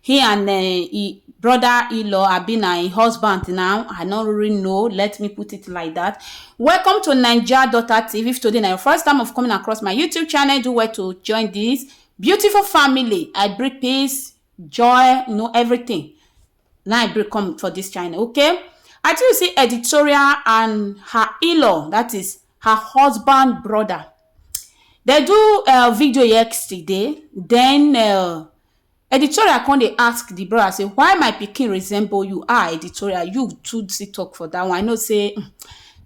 He and um e brother in-law abi na im husband now i no really know let me put it like that welcome to naija daughter tv if today na your first time of coming across my youtube channel do well to join this beautiful family i bring peace joy you know everything na i bring come for this channel okay i tell you say editorial and her in-law that is her husband brother they do uh, video yesterday then uh, Editorial come dey ask the brother say why my pikin resemble you ah editorial you too still talk for that one I know say um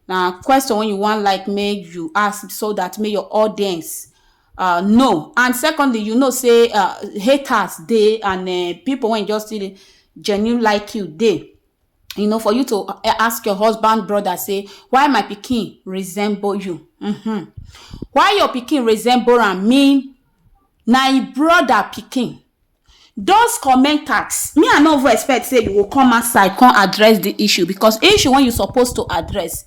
na question wey you wan like make you ask so that make your audience uh, know and secondly you know say uh, haters dey and uh, people wey just still dey genuine like you dey you know for you to uh, ask your husband brother say why my pikin resemble you mm-hmm. why your pikin resemble am mean na im brother pikin those commenters me I no even expect say you go come outside come address the issue because issue wey you suppose to address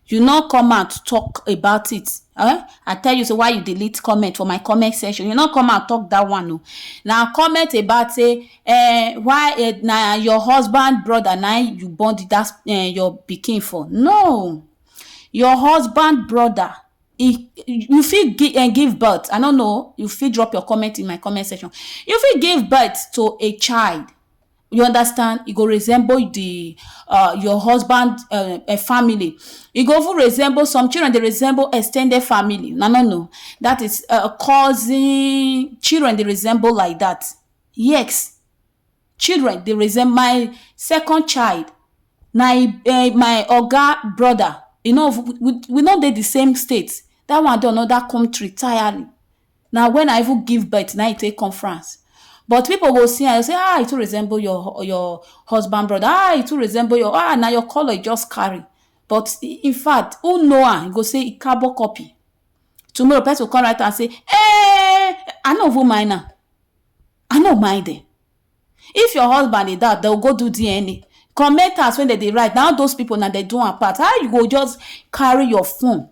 you no come out talk about it um I tell you say why you delete comment for my comment section you no come out talk that one oo na comment about say um why um na your husband brother na im you born that um your pikin for no your husband brother in you fit give um give birth I no know you fit drop your comment in my comment section you fit give birth to a child you understand e go resemble the uh, your husband uh, uh, family e go even resemble some children dey resemble extended family na no no that is uh, cousin children dey resemble like that yes children dey resemble my second child na im um my oga brother e no even we no dey the same state that one dey another country tirely na when I even give birth na im e take come France but people go see am go say ah e too resemble your your husband brother ah e too resemble your ah na your colour e just carry but in fact who know am go say e carbon copy tomorrow person go come write am say um I no even mind am I no mind dem. If your husband dey doubt, dem go do DNA. Commenters wey dem dey write, na all those people na dem do am pass. How you go just carry your phone,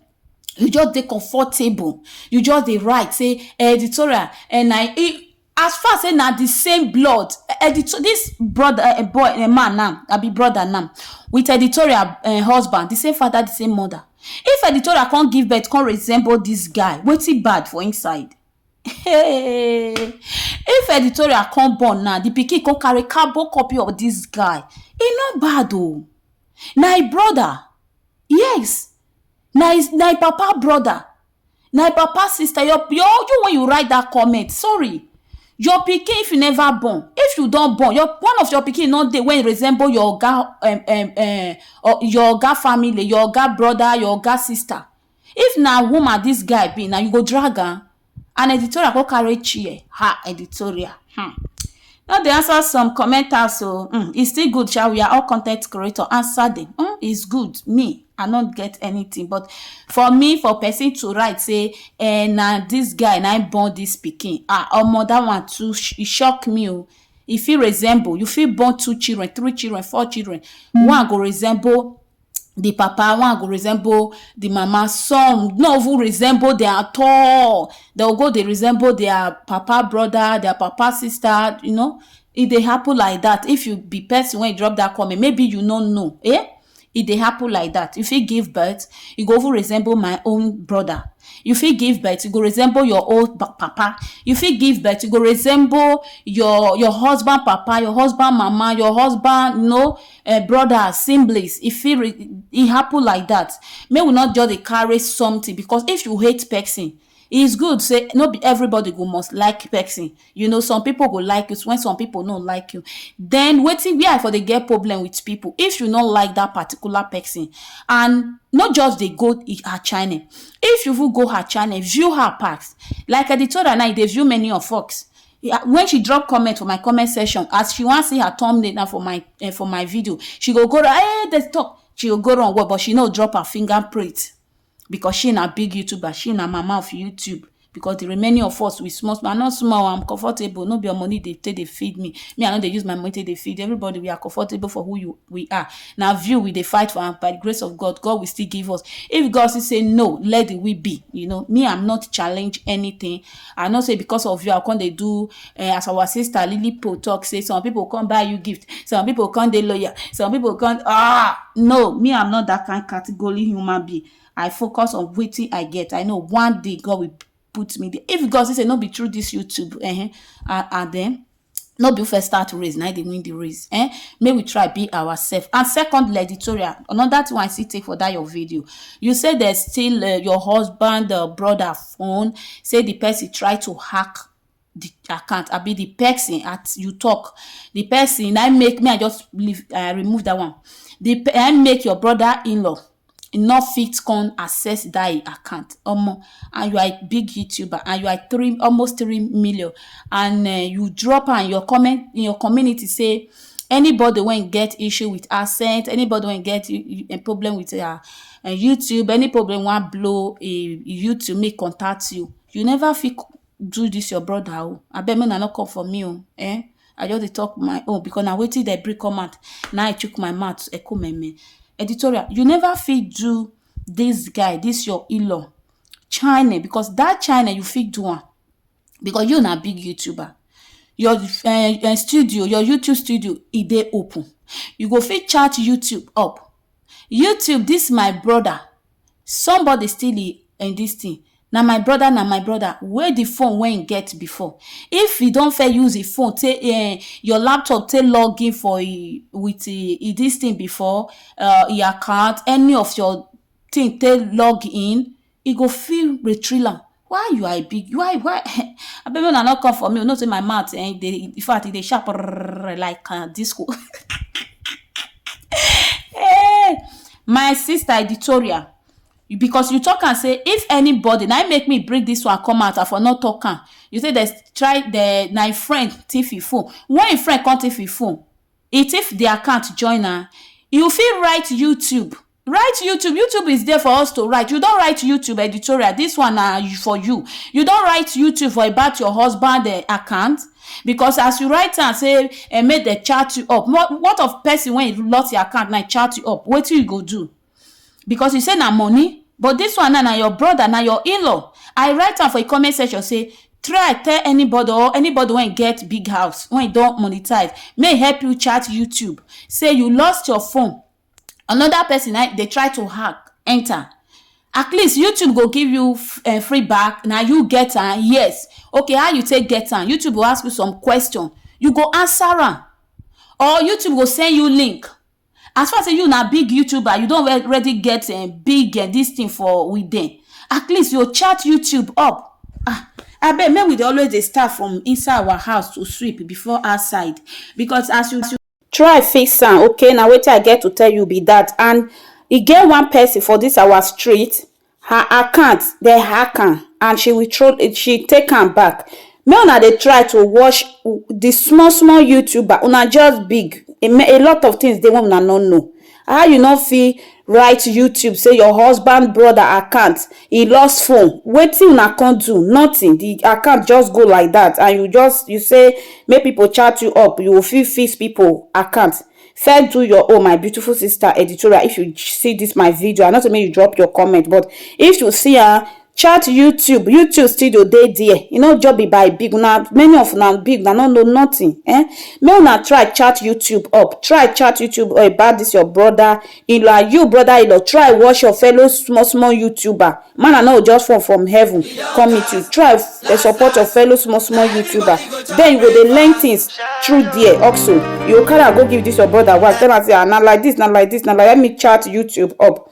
you just dey comfortable, you just dey write say editorial and na e as far say na the same blood, editor this brother uh, boy uh, man now, abi brother now, with editorial uh, husband, the same father, the same mother. If editorial come give birth, come resemble this guy, wetin bad for inside? Hey! If editorial come born now, the pikin come carry carbon copy of this guy. E no bad o. Na im brother. Yes. Na his, na im papa brother. Na im papa sister. Your, your, you when you write that comment, sorry. Your pikin, if you never born, if you don born, your one of your pikin no dey when e resemble your oga, um, um, um, or your oga family, your oga brother, your oga sister. If na woman dis guy be now, you go drag am? And editorial con carry chair, ha editorial um no dey answer some commenters o um e still good sha we are all con ten t creator answer dem um is good me I no get anything but for me for person to write sey um na dis guy na im born dis pikin um omo dat one too e shock me o e fit resemble you fit born two children, three children, four children one go resemble the papa, one go resemble the mama, some not even resemble them at all. They'll go, they resemble their papa brother, their papa sister, you know. It they happen like that. If you be person when you drop that comment, maybe you don't know. Eh? It they happen like that. If you give birth, you go over resemble my own brother. If you give birth, you go resemble your old ba- papa. If you give birth, you go resemble your your husband papa, your husband mama, your husband, you know, um brothers, siblings, e fit re e happen like that. Make we not just dey carry something because if you hate person, e is good say no be everybody go must like person. You know some people go like you when some people no like you. Then wetin where I for dey get problem with people if you no like that particular person and no just dey go her channel. If you even go her channel, view her pass. Like Editora now e dey view many of us. when she drop comment for my comment section as she wan see her thumbnail na for my uh, for my video she go go run hey dey talk she go go run well but she no drop her fingerprint because she na big youtuber she na mama of youtube because the remaining of us we small small i no small i'm comfortable no be your money dey take dey feed me me i no dey use my money take dey feed everybody we are comfortable for who you we are na view we dey fight for and by the grace of god god will still give us if god still say no let the will be you know me i'm not challenge anything I know say because of you I come dey do eh, as our sister Lilipo talk say some people come buy you gift, some people come dey loyal, some people come ah no me I'm not that kind category human being. I focus on wetin I get. I know one day God will put me there. If God say say no be through this YouTube eh, and, and then no be who first start race na im dey win the race um make we try be ourselves and secondly editorial another thing wey I see take for that your video you say they steal uh, your husband uh, brother phone say the person try to hack the account abi the person at you talk the person na make me I just leave I remove that one the I make your brother in-law e no fit come access that e account omo and you are a big youtuber and you are three almost three million and uh, you drop am your comment in your community say anybody wey get issue with accent anybody wey get a problem with their uh, uh, youtube any problem wan blow a youtube make contact you you never fit do this your brother o abeg make una no come for me o eh i just dey talk my own because na wetin dem bring come out na i chook my mouth ekumeme editorial you never fit do this guy this your in-law china because that china you fit do am because you na big youtuber your uh, uh, studio your youtube studio e dey open you go fit chat youtube up YouTube this my brother somebody still e in this thing na my brother na my brother wey the phone wey he get before if he don fair use the phone take eh, your laptop take log in for e with e, e this thing before uh, e account any of your thing take log in e go feel retriller why you are a big why why abeg make una no come for me you know say my mouth eh, e dey in fact e dey sharp rrrr like uh, disco hey, my sister editorial You- because you talk am say if anybody na im make me bring this one come out i for no talk am you say there's try the na im friend thief im phone when im friend come thief im phone e thief the account join am you fit write youtube Write YouTube, YouTube is there for us to write. You don write YouTube editorial, this one na for you. You don write YouTube for about your husband eh, account? Because as you write am say eh, make dem chat you up. What, what of person when you lost your account na chat you up? Wetin you go do? because you say na money but this one na na your brother na your in-law i write am for a comment section say try tell anybody or anybody wey get big house wey don monetize may help you chat youtube say you lost your phone another person na dey try to hack enter at least YouTube go give you um free back na you get am yes okay how you take get am YouTube go ask you some question you go answer am or YouTube go send you link as far as sey you na big YouTuber you don already get um big um this thing for with dem at least you go chat YouTube up um abeg make we dey always dey start from inside our house to sweep before outside because as you Try fix am ok na wetin I get to tell you be that and e get one person for this our street her account dem hack am and she will throw she take am back make una dey try to watch the small small youtuber una just big a lot of things dey wey una no know How you no fit write YouTube say your husband brother account he lost phone wetin una come do nothing the account just go like that and you just you say make people chat you up you will fit fix people account first do your own my beautiful sister editorial if you see this my video I know say make you drop your comment but if you see am Chat YouTube, YouTube studio dey there, e no just be by big, una many of una big una no know nothing ehn, make una try chat YouTube up, try chat YouTube up about this your brother inlaw and you brother inlaw try watch your fellow small small YouTuber, manna no go just fall from heaven come meet you, try dey support your fellow small small YouTuber then you go dey learn things through there also, you go carry am go give this your brother wife tell am say ah na like this na like this na like that, let me chat YouTube up